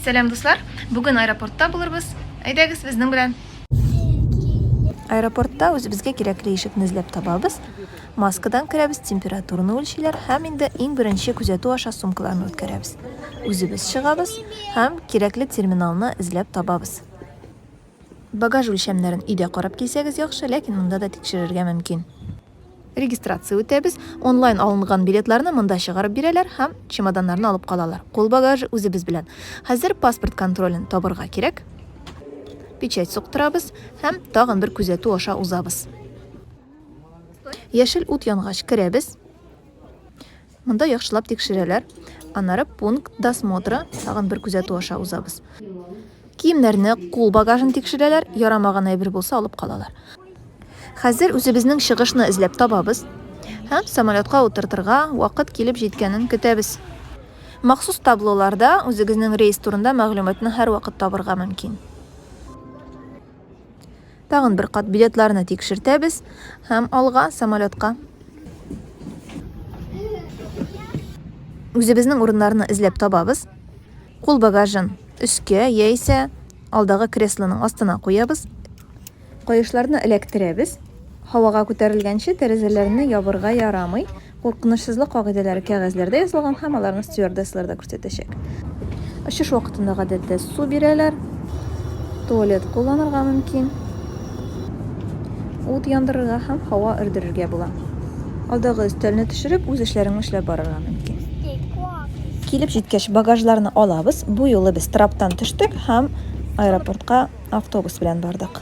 Сәлам дуслар! Бүген аэропортта булырбыз. Әйдәгез безнең белән! Аэропортта үзебезгә кирәкле ишекне эзләп табабыз, маскадан керәбез, температураны үлчиләр һәм инде иң беренче күзәтү аша сумкаларны үткәрәбез. Үзебез чыгабыз һәм кирәкле терминалны эзләп табабыз. Багаж үлчәмнәрен өйдә карап килсәгез яхшы, ләкин монда да тикшерергә мөмкин. Регистрация үтәбез, онлайн алынган билетларны монда чыгарып бирәләр һәм чемоданнарны алып калалар. Кул багажы үзебез белән. Хәзер паспорт контролен табырга кирәк. Печать суктырабыз һәм тагын бер күзәтү аша узабыз. Яшел ут янгач керәбез. Монда яхшылап тикшерәләр, аннары пункт досмотра, тагын бер күзәтү аша узабыз. Киемнәрне, кул багажын тикшерәләр, ярамаган әйбер булса алып калалар. Хәзер үзебезнең чыгышны эзләп табабыз һәм самолетка утыртырга вакыт килеп җиткәнен көтәбез. Махсус таблоларда үзегезнең рейс турында мәгълүматны һәрвакыт табырга мөмкин. Тагын бер кат билетларны тикшертәбез һәм алга самолетка. Үзебезнең урыннарны эзләп табабыз. Кул багажын өскә яисә алдагы креслоның астына куябыз. Каешларны эләктерәбез. Һавага күтәрелгәнче тәрәзәләрне ябырга ярамый. Куркынычсызлык кагыйдәләре кәгазьләрдә язылган һәм аларны стюардессалар да күрсәтәчәк. Очыш вакытында гадәттә су бирәләр, туалет кулланырга мөмкин, ут яндырырга һәм һава өрдерергә була. Алдагы өстәлне төшереп, үз эшләреңне эшләп барырга мөмкин. Килеп җиткәч, багажларны алабыз. Бу юлы без траптан төштек һәм аэропортка автобус белән бардык.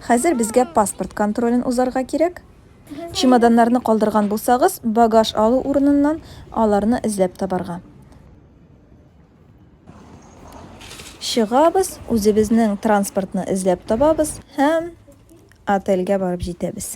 Хәзер безгә паспорт контролен узарга кирәк. Чемоданнарны калдырган булсагыз, багаж алу урыныннан аларны эзләп табарга. Чыгабыз, үзебезнең транспортны эзләп табабыз һәм отельгә барып җитәбез.